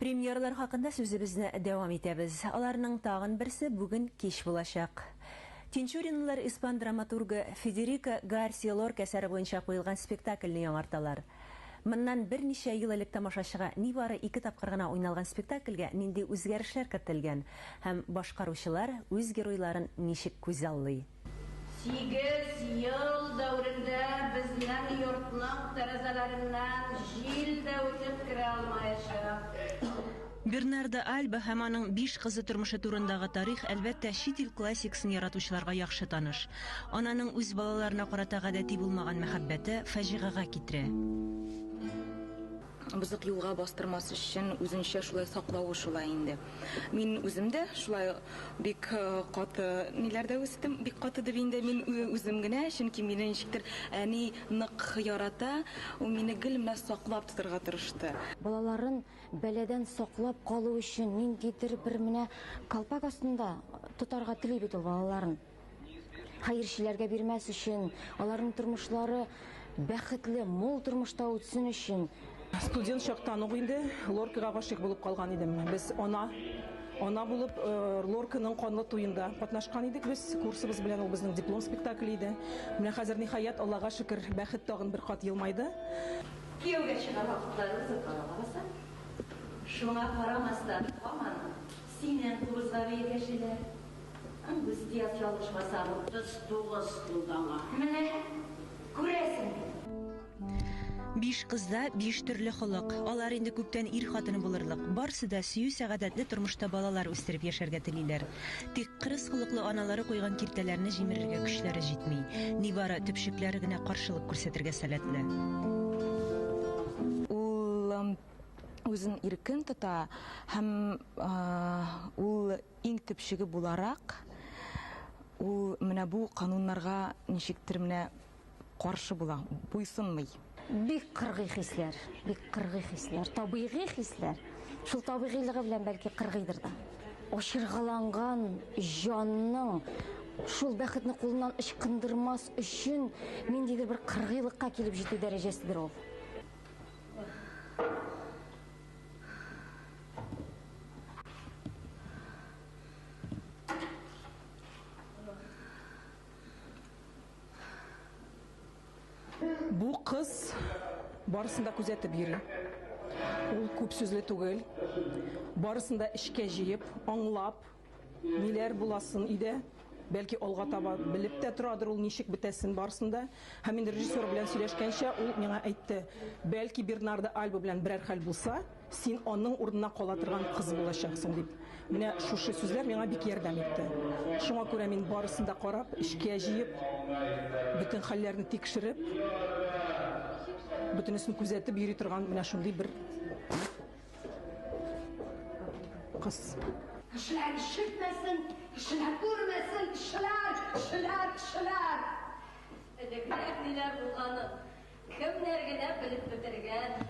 Премьерлар хакында сүзебезне дәвам итәбез. Аларның тагын берсе бүген кич булачак. Тинчуринлылар испан драматургы Федерико Гарсия Лорка әсәре буенча куелган спектакльне яңарталар. Моннан берничә ел элек тамашачыга нибары ике тапкыр гына уйналган спектакльгә нинди үзгәрешләр кертелгән һәм башкаручылар үз геройларын ничек күзаллый? Сигез ел дәверендә безнең йортның тәрәзәләреннән җил дә үтеп керә алмаячак. Бернардо Альба һәм аның биш кызы тормышы турындагы тарих, әлбәттә, чит ил классикасын яратучыларга яхшы таныш. Ананың үз балаларына карата гадәти булмаган мәхәббәте фаҗигагә китерә. Бозык юлга бастырмас өчен үзенчә шулай саклавы шулай инде. Мин үзем дә шулай бик каты ниләрдә үстем, бик каты дип инде мин үзем генә, чөнки мине ничектер әни нык ярата, ул мине гел менә саклап тотарга тырышты. Балаларын бәладән саклап калу өчен ниндидер бер менә калпак астында тотарга тели бит ул балаларын. Хәерчеләргә бирмәс өчен, аларның тормышлары бәхетле, мул тормышта үтсен өчен. Студент чактан ук инде Лоркага гашыйк булып калган идем. Без ана Ана булып э, Лорканың канлы туенда катнашкан идек без. Курсыбыз белән ул безнең диплом спектакле иде. Менә хәзер ниһаять Аллага шөкер, бәхет тагын бер кат елмайды. Кияүгә чыгар вакытлары узып кала лабаса. Шуңа карамастан, һаман синнән кубызга бәя кәшиләр. Устияк ялгышмасам, 39 тулды аңа. Менә күрәсең. Биш кызда биш төрле холык. Алар инде күптән ир хатыны булырлык. Барсы да сөю сәгадәтле тормышта балалар үстереп яшәргә телиләр. Тик кырыс холыклы аналары куйган киртәләрне җимерергә көчләре җитми. Нибары төпчекләре генә каршылык күрсәтергә сәләтле. Ул үзен иркен тота һәм ул Иң төп чиге буларак, ул менә бу кануннарга ничектер менә каршы була, буйсынмый. Бик кыргый хисләр, бик кыргый хисләр, табигый хисләр. Шул табигыйлыгы белән, бәлки, кыргыйдыр да. Ачыргаланган җанның шул бәхетне кулыннан ычкындырмас өчен ниндидер бер кыргыйлыкка килеп җитү дәрәҗәседер ул. Бу кыз барысын да күзәтеп йөри. Ул күп сүзле түгел. Барысын да эчкә җыеп, аңлап, Ниләр була сон өйдә? Бәлки алга таба белеп тә торадыр ул ничек бетәсен барысын да. Һәм инде режиссер белән сөйләшкәнчә ул миңа әйтте, Бәлки Бернардо Альба белән берәр хәл булса, син аның урынына кала торган кыз булачаксың, дип. Менә шушы сүзләр миңа бик ярдәм итте. Шуңа күрә мин барысын да карап, эчкә җыеп, бөтен хәлләрне тикшереп, бөтенесен күзәтеп йөри торган менә шундый бер Кыз. Кешеләр ишетмәсен, кешеләр күрмәсен, кешеләр, кешеләр, кешеләр. Элегрәк ниләр булганы, кемнәр генә белеп бетергән.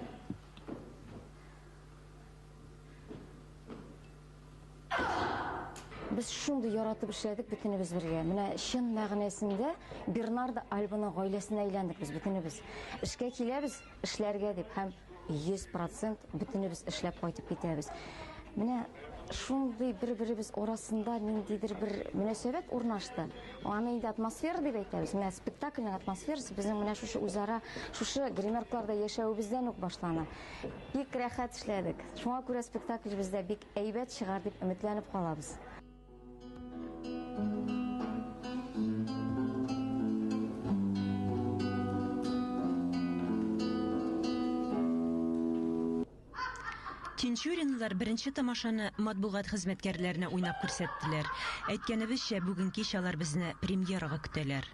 Без шундый яратып эшләдек бөтенебез бергә. Менә чын мәгънәсендә Бернардо Альбаның гаиләсенә әйләндек без бөтенебез. Эшкә киләбез, эшләргә дип һәм 100 процент бөтенебез эшләп кайтып китәбез. Менә шундый бер-беребез арасында ниндидер бер мөнәсәбәт урнашты. Аны инде атмосфера дип әйтәбез. Менә спектакльнең атмосферасы безнең менә шушы үзара, шушы гримеркларда яшәвебездән үк башлана. Бик рәхәт эшләдек. Шуңа күрә спектакль бездә бик әйбәт чыгар дип өметләнеп калабыз. Тинчуринлылар беренче тамашаны матбугат хезмәткәрләренә уйнап күрсәттеләр. Әйткәнебезчә, бүген кич алар безне премьерага көтәләр.